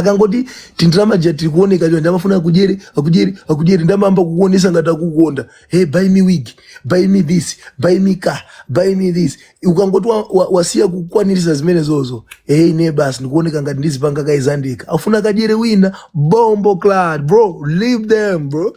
ukangoti tindalama tija tikuoneka chonchi amafuna akudyere akudyere akudyere nde amayamba kukuonesa ngati akukonda hey buy me wig buy me this buy me car buy me this ukangoti wa- wa- wasiya kukwanirisa zimenezozo hey ne basi ndikuoneka ngati ndi chipanga kaizandika afuna akadyere wina bomboclaat bro leave them bro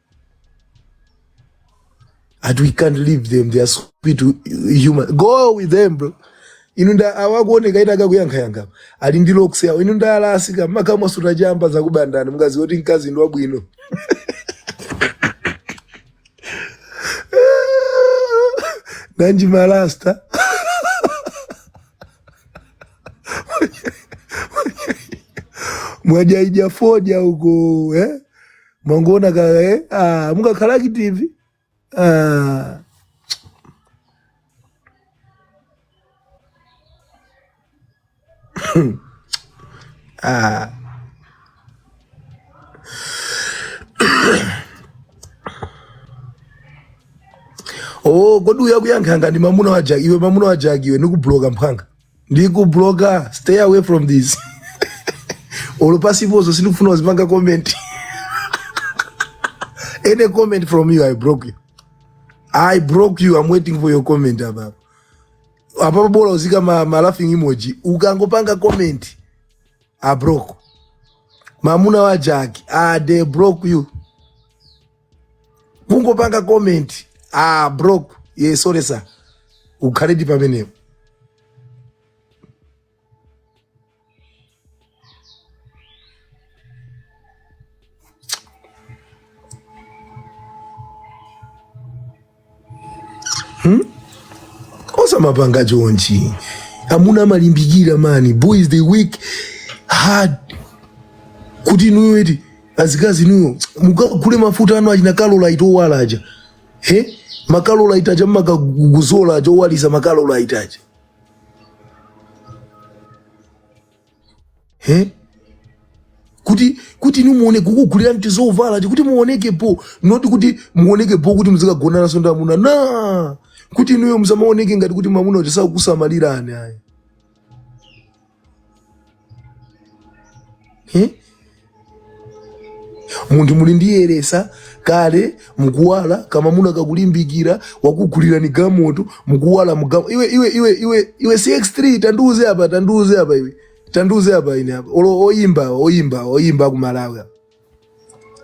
and we can't leave them they are stupid human go with them bro inu nda awa akuoneka eti akuyankhayankha ali ndi locks zawo inu nda a rasta makamaka osuta chamba zakubandani mkazi woti mkazi ndi wabwino nanji ma rasta mwajaira fodya uko eh? mwangoona kaka eh? ah, mukakhala active ah. ah. oh kodi uyu akuyankha ngati mamuna wa jaki iwe mamuna wa jaki iwe nikublocka mphwanga ndikubloka stay away from this olo pasipozo sindikufuna uzipanga comment any comment from you i broke you i broke you i'm waiting for your comment apapo apapo bola uzika ma, ma laughing emoji ukangopanga comment i broke mamuna wa jaki ah, they broke you kungopanga comment ah bro yes sorry sir ukhaledi pamenepo osamapanga chonchi amuna amalimbikira man boys they work hard kuti inuyo eti azikazi inuyo mukagule mafuta anu achina Carolight owala aja he ma Carolight aja mmakadzola aja owalisa ma Carolight aja he kuti kuti inu muone kukugulira tizovala ti kuti muonekepo not kuti muonekepo kuti muzikagonananso ndi amuna ena kuti inuyo muzamaoneke ngati kuti mamuna uja sakukusamalirani ayi he munthu munadziyeretsa kale mukuwala kamamuna kakulimbikira wakugulirani galimoto mukuwala mugalimo iwe iwe iwe iwe iwe cx3 tandiuze apa tandiuze apa iwe tandiuze apa ine apa olo oyimba awa, oyimba awa, oyimba akumalawi apa.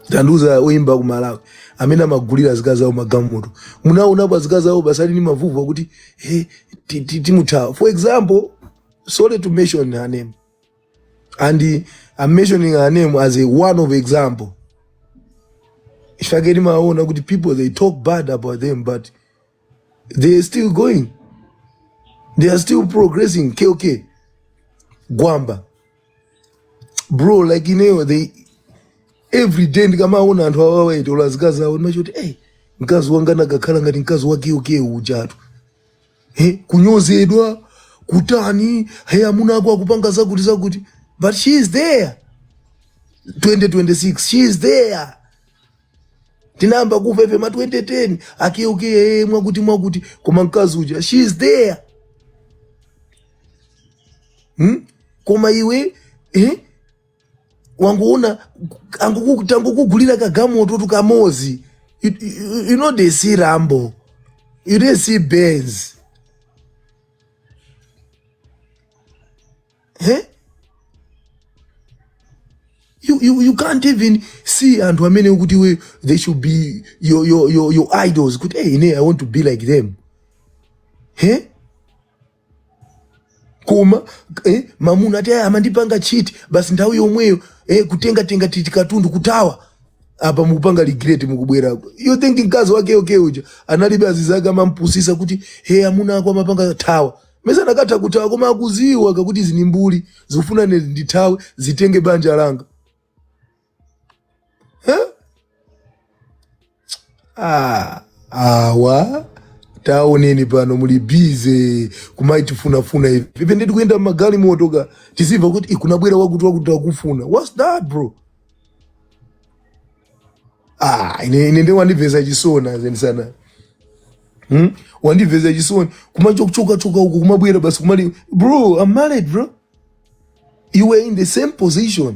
tandiuza oyimba akumalawi amene amagulira azikazi zawo magalimoto munaonapo azikazi zawo pasali ni mavuto akuti hey, timuthawe for example sorry to mention her name and I'm mentioning her name as a one of example timaona kuti people they talk bad about them but they are still going they are still progressing Keke Gwamba bro like you know they every day ndikamaona anthu awa aitola azikazi awo ndimachita kuti ey mkazi wanga anakakhala ngati mkazi wa Keke uyu ujatu he kunyozedwa kutani he amuna ako akupanga zakuti zakuti but she is there 2026 she is there tinayamba kumva ife ma 2010 a Keke ee mwakuti mwakuti koma mkazi uja she is there hmm? koma iwe eh? wangoona angoku- tangokugulira kagamoto tukamozi you, you, you know they see rambo you didn't see benz eh? you, you, you can't even see anthu amene ukuti we they should be your, your, your, your idols kuti hey, ine i want to be like them eh? koma eh, mamuna ati "Aya, amandipanga cheat basi nthawi yomweyo eh, kutengatenga titikatundu kuthawa apa mukupanga regret mukubwerako you think mkazi wa Keke uja analibe azinzake amampusisa kuti he amuna ako amapanga thawa mesa anakatha kuthawa koma akuziwa kakuti izi ndi mbuli zikufuna ine ndithawe zitenge banja langa Ah, awa taoneni pano muli busy kumaitifunafuna ivi ivi nditi kuyenda mmagalimoto tizimva kuti kunabwera wakuti wakuti akufuna whats that bro ah, ine, ine nde wandimvesa chisoni zedi sana hmm? wandimvesa chisoni kumachokachoka uko kumabwera basi kumati bro i'm married bro you were in the same position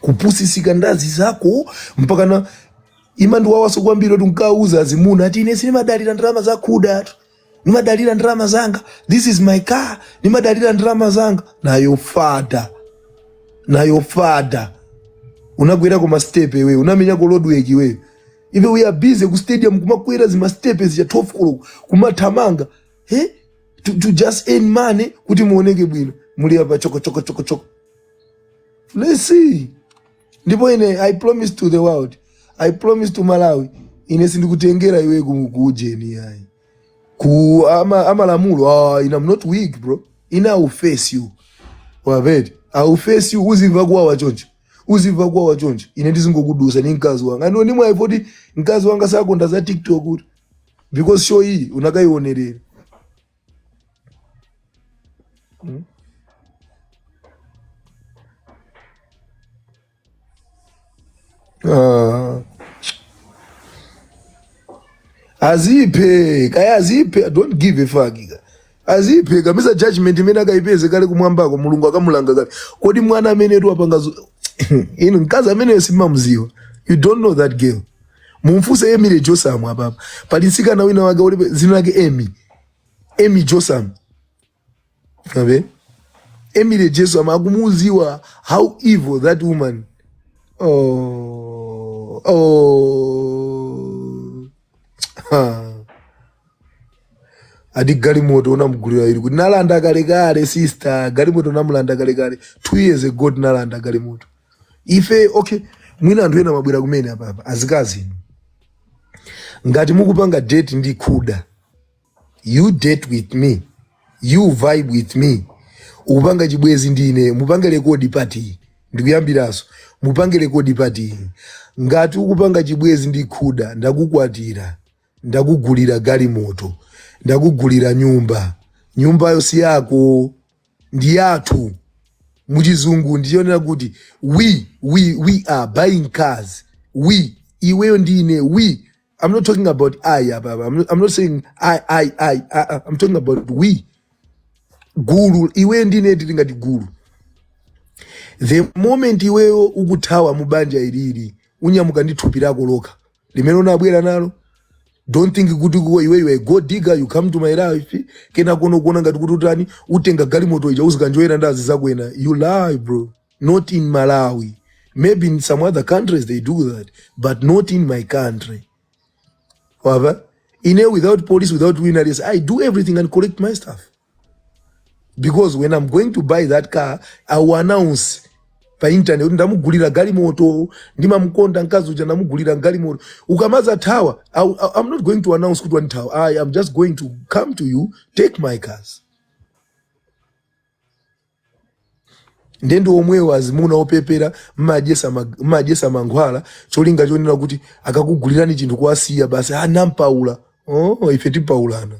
kupusisika ndi azinzako mpakana imandiwawaso kwambiri kuti nkumauza azimuna ati ine sinimadalira ndalama zakhuda atu nimadalira ndalama zanga this is my car nimadalira ndalama zanga na your father na your father unagwera ku mastepe iwe unamenya ku roadwork iwe ife we are busy ku stadium kumakwera zimastepe zija 12 koloko kumathamanga eh? to, to just earn money kuti muoneke bwino muli apa chokochokochokochoko Let's see. Ndipo ine I promise to the world. I promise to Malawi. Ine sindikutengera iwe ku- kuujeni yayi. Ku ama, ama lamulo. Ah, ine I'm not weak bro. Ine I will face you. Wamva eti. I will face you uzimva kuwawa choncho. Uzimva kuwawa choncho. Ine ndizingokudusa ni mkazi wanga. And ni mwayi poti mkazi wanga sakonda za TikTok kuti. Because show iyi unakaionerera. Hmm? Ah. aziphe kaya aziphe don't give a fuck kaya aziphe kamisa judgment imene akayipeze kale kumwambako mulungu akamulanga kale kodi mwana ameneyutu apanga zo- inu mkazi ameneyo simamziwa you don't know that girl mumfunse emily josam apapa pali mtsikana wina wake ulibe dzina lake emi emi josam abe emily josam akumudziwa how evil that woman oh, oh. Ha. ati galimoto unamugulira ili kuti nalanda kalekale sister galimoto namulanda kalekale two years ago tinalanda galimoto ife okay mwina anthu ena mwabwera kumene apapa azikazi inu ngati mukupanga date ndi khuda you date with me you vibe with me ukupanga chibwezi ndi ine mupange rekodi pati, ndikuyambiraso mupange rekodi pati ngati ukupanga chibwezi ndi khuda ndakukwatira ndakugulira galimoto ndakugulira nyumba nyumbayo si yako ndi yathu mu chizungu ndi chonena kuti we we we are buying cars we iweyo ndi ine we i'm not talking about i apapa. i'm not, I'm not saying i i i I- I- i'm talking about we gulu iweyo ndi ine tili ngati gulu the moment iweyo ukuthawa mu banja ilili unyamuke ndi thupi lako lokha limene unabwera nalo don't think kuti kuwe iwe iwe gold digger you come to my life kenakono ukuona ngati kuti utani utenga galimoto ija uzikanjoyera ndi azizakwena you lie bro not in malawi maybe in some other countries they do that but not in my country wava ine without police without wina i do everything and collect my stuff because when i'm going to buy that car i will announce pa internet kuti ndamugulira galimoto ndimamkonda mkazi uja ndamugulira galimoto ukamazathawa I- I- i'm not going to announce kuti wandithawa i am just going to come to you take my cars nde ndi omwewa azimuna opepera mmadyesa ma- mmadyesa mankhwala cholinga chonena kuti akakugulirani chinthu kuwasiya basi anampaula oh, ife timpaulana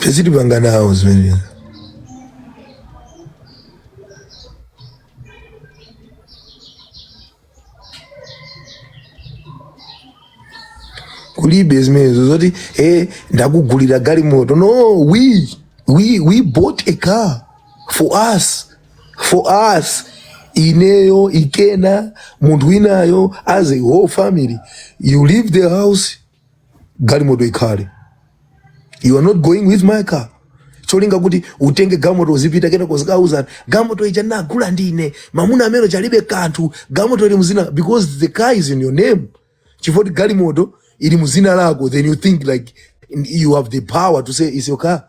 tizitipanga nawo zimenezi kulibe zimenezo zoti e ndakugulira galimoto no we, we, we bought a car for us for us ineyo kapena munthu winayo as a whole family you leave the house galimoto ikhale you are not going with my car cholinga kuti utenge galimoto uzipita kenako uzikauza galimoto ija nagula ndine mamuna amene uja alibe kanthu galimoto ili muzina because the car is in your name chifukwa choti galimoto ili muzina lako then you think like you have the power to say is your car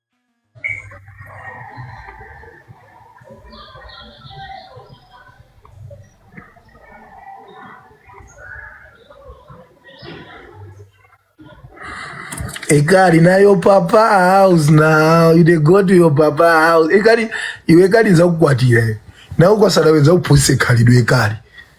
ekali na your papa house now you dey go to your papa house ekali iwe ekali nzakukwatira iwe nawe kwasala wenza kuphunzitsa khalidwe ekali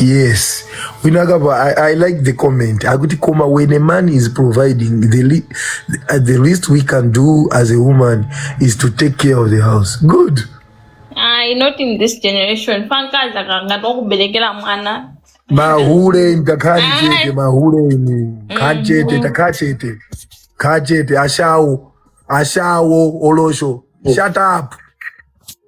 yes winakapa I, i like the comment akuti koma when a man is providing the, le uh, the least we can do as a woman is to take care of the house good Ayi, not in this generation fankazi akangati wakuberekera mwana mahule takhala chete mahule inu kha chete takhala chete kha chete ashawo ashawo olosho shut up